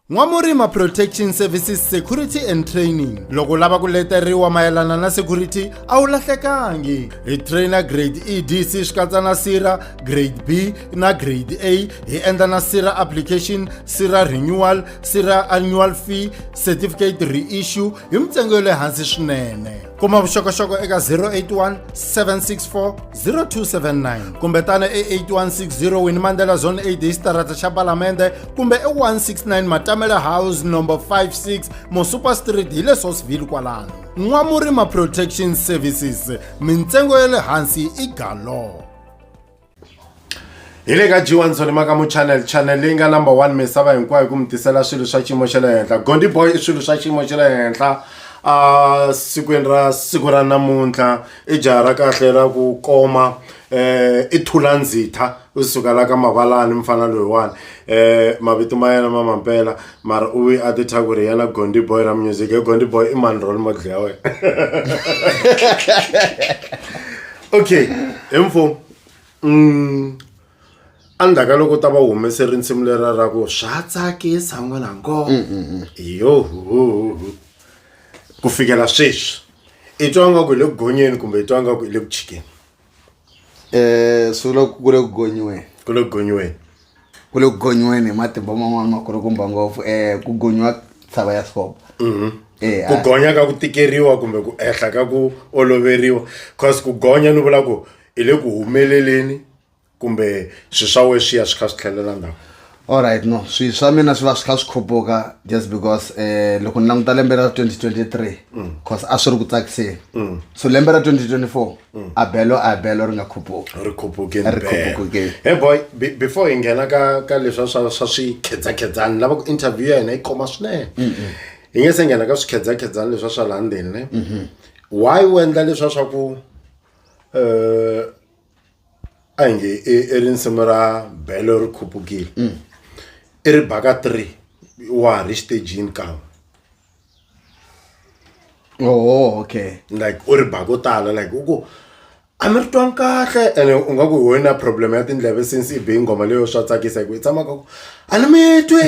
N'wamurima Protection Services Security and Training loko lava ku leteriwa mayelana na security a wu lahlekangi hi trainer grade EDC swi katsa na sira grade B na grade A hi endla na sira application sira renewal sira annual fee certificate reissue hi mintsengo ya le hansi swinene kuma vuxokoxoko eka 081 764 0279 kumbe tana e 8160 wini mandela zone 8 hi xitarata xa palamende kumbe e169 matamele house number 56 mosuper street hi le sosville kwalano n'wamurima protection services mintsengo ya le hansi i galo hi le ka g1 tsonimakamo channel channel leyi nga number 1 misava hinkwayo ku mi tisela swilo swa xiyimo xa le henhla gondi boy i swilo swa xiyimo xa le henhla a sikwini ra siku ra namuntlha i jaha ra kahle ra ku koma eh i thulandzitha u suka la ka mavalani mfana loyiwani eh mavito ma yena ma mampela mara u a ti tha ku ri yena gondi boy ra music e gondi boy i mani role model ya wena okay hi mfo mm endzhaku ka loko u ta va humese rinsimu lera ra ku swa tsakisa n'wina ngo mm, mm, mm. yoho ku fikela sweswi i twa ngaku hi le ku gonyeni kumbe i twa ngaku hi le ku chikeni um swi vula ku ku le ku gonyiweni ku le ku gonyiweni ku le ku gonyiweni hi matimba man'wana ma kulukumba ngopfu um ku gonyiwa tshava ya sikopo um ku gonya ka ku tikeriwa kumbe ku ehla ka ku oloveriwa cause ku gonya ni vula ku hi le ku humeleleni. kumbe swilo swa wena swi ya swi kha swi tlhelela ndzhaku alright no swilo swa mina swi va swi kha swi khuphuka just because um loko ni languta lembe ra 2023 mm. cause a swi ri ku tsakiseni mm. so lembe ra 2024 mm. a belo a belo ri nga khuphuki ri khupukeni he boy before hi nghena ka ka leswa swa swa swikhedzakhedzani lava ku interview ya hina yi khoma swinene hi nge se nghena ka swikhedzakhedzani leswa swa laha ndzeni ne mm-hmm. why u endla leswa swa ku um a hi nge i i ri nsimu ra belo ri khupukile i ri baka three wa ha ri xitejini kan'we oh okay like u ri ba ko tala like u ku a mi ri twanga kahle ene u nga ku hi wena problem ya tindleve since i be nghoma leyo swa tsakisa hi ku i tshama ka ku a ni mi twi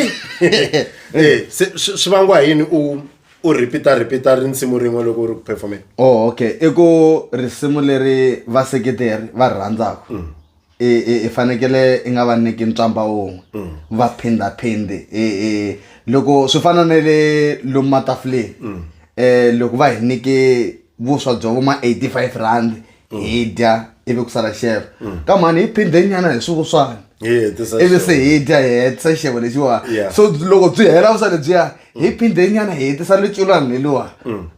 Eh, se swi swi vangiwa hi yini u u repeat repeat ri nsimu rin'we loko u ri ku performeni oh okay i ku risimu leri vaseketeri va rhandzaka mm. i fanekele i nga va nyiki ntswamba wun'we mm. va phindaphindi loko swi fana na le lomu matafuleni um loko va hi nyike vuswa bya vo ma eighty five rand hi dya ivi ku sala xefa ka mhani hi phinde nyana hi swivuswana Yeah, this is ivi se hi dya hi hetisa xevo lexiwa Yeah. so loko byi hela vusa lebyiya hi phinde nyana hi hetisa leculwana leliwa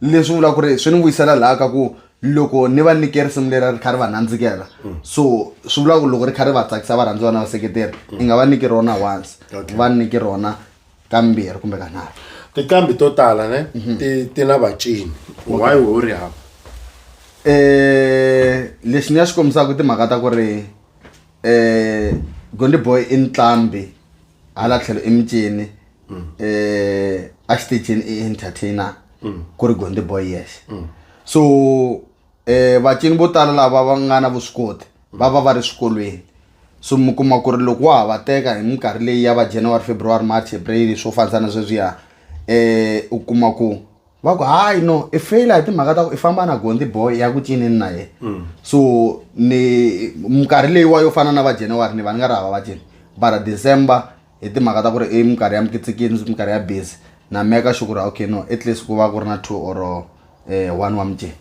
leswi vula ku ri swi ni vuyisela laha ka ku loko ni va nyike risimu leri ri kha ri va nandzikela so swi vula ku loko ri kha ri va tsakisa varhandziwa na vaseketeri i nga va nyiki rona once Okay. va nyiki rona kambirhi kumbe kanharhu tiqambi to tala ne mhm. ti ti na vacini why wo ri hava eh lexi ni ya xi kombisaka timhaka ta ku ri eh Gondi Boy i ntlambi hala tlhelo i micini mm. eh a xitejini i entertainer mm. ku ri Gondi Boy yes mm. so um vacini vo tala lava va nga na vuswikoti va va va ri swikolweni so mi kuma ku ri loko wa ha va teka hi minkarhi leyi ya va january february march april swo fanisa na sweswiya um u kuma ku va ku hayi no i feyila hi timhaka ta ku i famba na gondi boy ya ku cinini na yena mm. so ni minkarhi leyiwa yo fana na va january ni va ni nga ri hava va cini bara december hi timhaka ta ku ri i minkarhi ya mikitsikini minkarhi ya busy na meka sure ku ri okay no at least ku va ku ri na two or um one wa mujeni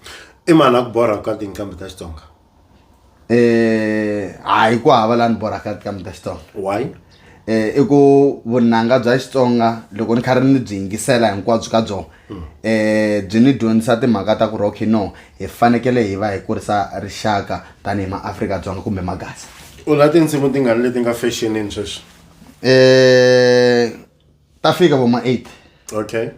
i mani a ku borha ka tinqambi ta xitsonga um hayi ku hava laha ni borhaka tinqambi ta xitsonga why um i ku vunanga bya xitsonga loko ni kha ri ni byi yingisela hinkwabyo ka byona um byi ni dyondzisa timhaka ta ku ri okay no hi fanekele hi va hi kurisa rixaka tanihi maafrika-dzonga kumbe magasi u la tinsimu tingani leti nga fashionini sweswi um ta fika vo ma eight okay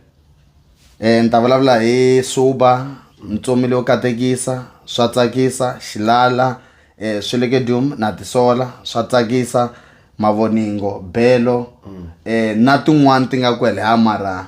um ni ta vulavula hi suba mitsomile yo katekisa swa tsakisa xilala um swelekedium na tisola swa tsakisa mavoningo belo um na tin'wani ti nga kwele ha mara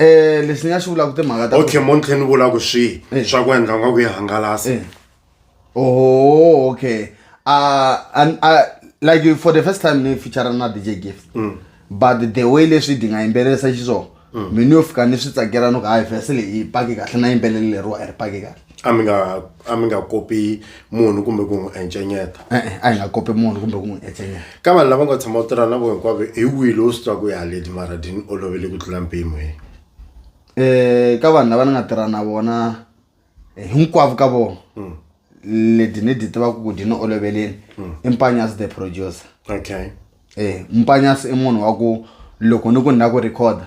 Eh leswi ni nga xi vulaka timhaka ta okay montlhe ni vula ku swihi eh. swa ku endla nga ku yi hangalasa eh. oh okay uh, and, uh, like for the first time ni feature na DJ Gift mm. but the way leswi di nga yimbelelisa xiswona mm. mina yo fika ni swi tsakela no ku hayi vhese leyi paki kahle na yimbelele leriwa a ri paki kahle a mi nga a mi nga kopi munhu kumbe ku n'wi encenyeta e-e a hi nga kopi munhu kumbe ku n'wi encenyeta ka vanhu lava nga tshama u tirha na vo hinkwavo hi wihi lowu swi twaku ya leti mara ti ni olovele ku tlula mpimo hi um ka vanhu lava ni nga tirha na vona eh, hinkwavo ka vona hmm. leti ni ti tivaka ku di ni oloveleni hmm. i mpanyasi the producer okay um mpanyasi i munhu wa ku loko ni ku ni la ku recorda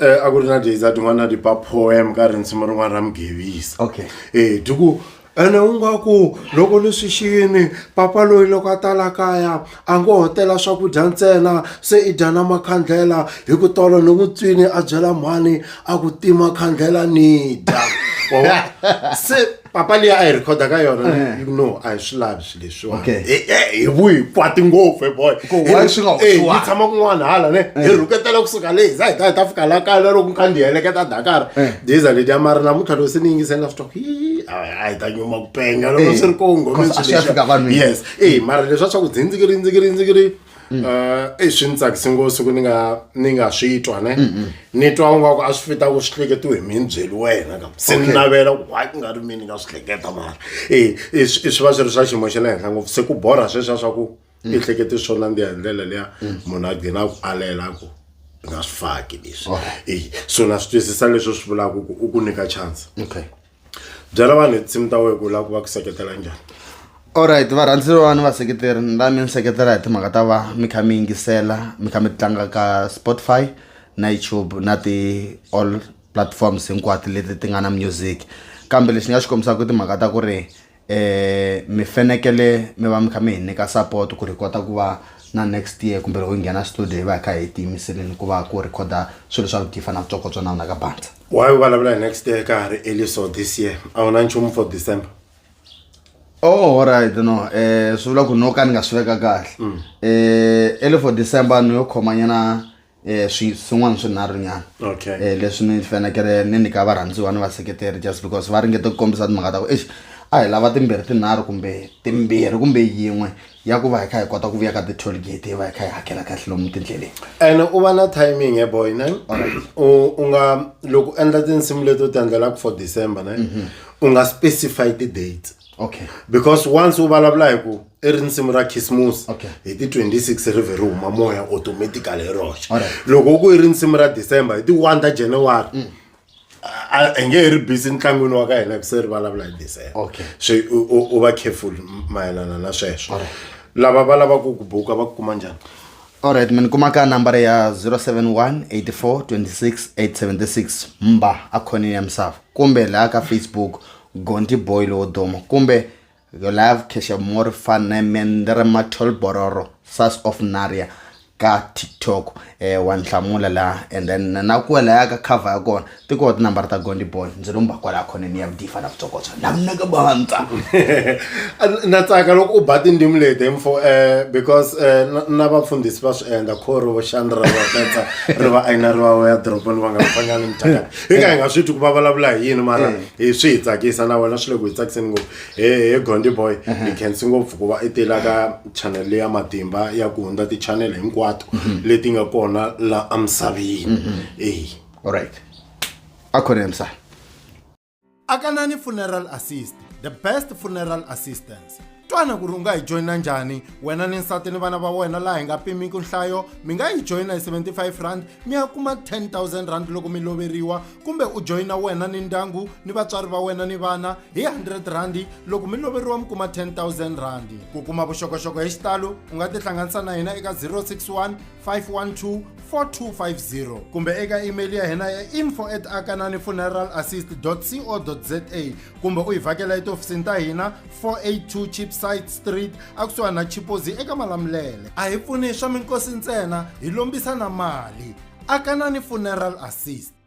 Eh, a ku ri na days a tin'wana ti ba poem ka rinsimu rin'wana ra mugevisa okay e ti ku ene u nga ku loko leswi xini papa loyi loko a tala kaya a ngo hotela swakudya ntsena se i dya na makhandlela hi ku tolo ni vutswini a byela mhani a ku tima khandlela ni dya se papa leyi a yi rhekhoda ka yona eh. you know a hi swi lavi swi leswiwa hi vuyi kwati ngopfu boy yi tshama kun'wana hala ne hi eh. rhuketela kusuka leyi hi za hi ta hi ta fika la kaya loko kha ndi heleketa dakara eh. diza leti ya mari namuntlha loko se ni yingisela swi twaku a hi ta nyuma ku penga loko swi ri kongomeswilesiyes e mara leswa swa ku dzindzikiri ndzikiri ndzikiri Mm. Eh, i swi ni tsakise ngopfu ku ni nga ni nga swi twa ne mm, mm. ni twa ungaku a swi fita ku swi hleketiwe hi mina byeli wena ka se ni navela ku hayi ku nga ri mina ni nga swi hleketa mara e i swi va swi ri swa xiyimo xa le henhla ngopfu se ku borha sweswiya swa ku i hlekete swo nandziha hi ndlela liya munhu a gcina ku alela ku i nga swi faki leswi e so na swi twisisa leswi swi vulaka ku u ku nyika chance okay byela vanhu hi tinsimu ta wena ku lava ku va ku seketela njhani alright varhandzeriwani vaseketeri ni la mi ni seketela hi timhaka ta va mi kha mi yingisela mi kha mi tlanga ka spotify na youtube na ti-all platforms hinkwato leti ti nga na music kambe lexi ni nga xi kombisaka i timhaka ta ku ri eh mi fenekele mi va mi kha mi hi nyika support ku ri kota ku va na next year kumbe loko hi nghena studio hi va hi kha hi tiyimiseleni ku va ku rhikhoda swilo swa vugifa na vutsokotso na vona ka bandza why u vulavula hi next year ka ha ri early so this year a wu na nchumu for december oh alright no eh swi vula ku no ka ni nga swi veka kahle eh early for december ni yo khomanyana eh swi swin'wana swinharhu nyana okay eh leswi ni fanekele ni nyika varhandziwa ni vaseketeri just because va ringete ku kombisa timhaka ta ku eish a hi lava timbirhi tinharhu kumbe timbirhi kumbe yin'we ya ku va hi kha hi kota ku vuya ka ti-toll gate hi va hi kha hi hakela kahle lomu tindleleni and u va na timing ya boy ne u u nga loko u endla tinsimu leto ti endlelaka for december ne u nga specify ti-date okay because once u vulavula hi ku i ri nsimu ra khisimusi Okay. hi ti 26 ri vhe ri huma moya automatically hi roxe Alright. Mm. loko ku i ri nsimu ra december hi ti 1 ta january a- a nge he ri busy entlangwini wa ka hina ku se ri vulavula hi december Okay. so u- u u va careful mayelana na sweswo Alright. lava va lavaka ku buka va ku kuma njhani alright mi ni kuma ka nambara ya 071 84 26 876 mba akhoneni ya misava kumbe laha ka facebook Gonti boy lowo duma kumbe your life keshamori fanemendere matholbororo sas of naria ka tiktok eh, wa ni hlamula laha and then na ku laya ka cover ya kona ti koho tinambara ta gondi boy ndzi lo mba kwalaha khoneni ya vudifa na vutsokotso na mnaka bantsa na tsaka loko u ba tindzimi leti hi mfo eh, because eh, na- na vafundhisi va swi endla kho ri voxani ra vatetsa ri va ayina ri va ya dorobeni va nga fanyangi mithaka hi ka hi nga swi twi ku va vulavula hi yini mara hi swi hi tsakisa na wena swi le ku hi tsakiseni ngopfu he he gondi boy hi khensi ngopfu ku va i tela ka channel leya matimba ya ku hundza ti-channel hinkwato leti nga kona la emisaveni eyi alright a khona emsana akanani funeral assist the best funeral assistance twana ku ri u nga hi joyina njhani wena ni nsati ni vana va wena laha hi nga pimiki nhlayo mi nga yi joyina hi 75 rand mi ya kuma 10000 rand loko mi loveriwa kumbe u joyina wena ni ndyangu ni vatswari va wena ni vana hi 100 randi loko mi loveriwa mi kuma 10000 randi ku kuma vuxokoxoko hi xitalo u nga tihlanganisa na hina eka 061 512 4250 kumbe eka email ya hina ya info at akanani funeral assist co za kumbe u hi vhakela etihofisini ta hina 482 chipsite street akusuhani na chipozi eka malamulele a hi pfuni swa minkosi ntsena hi lombisa na mali akanani funeral assist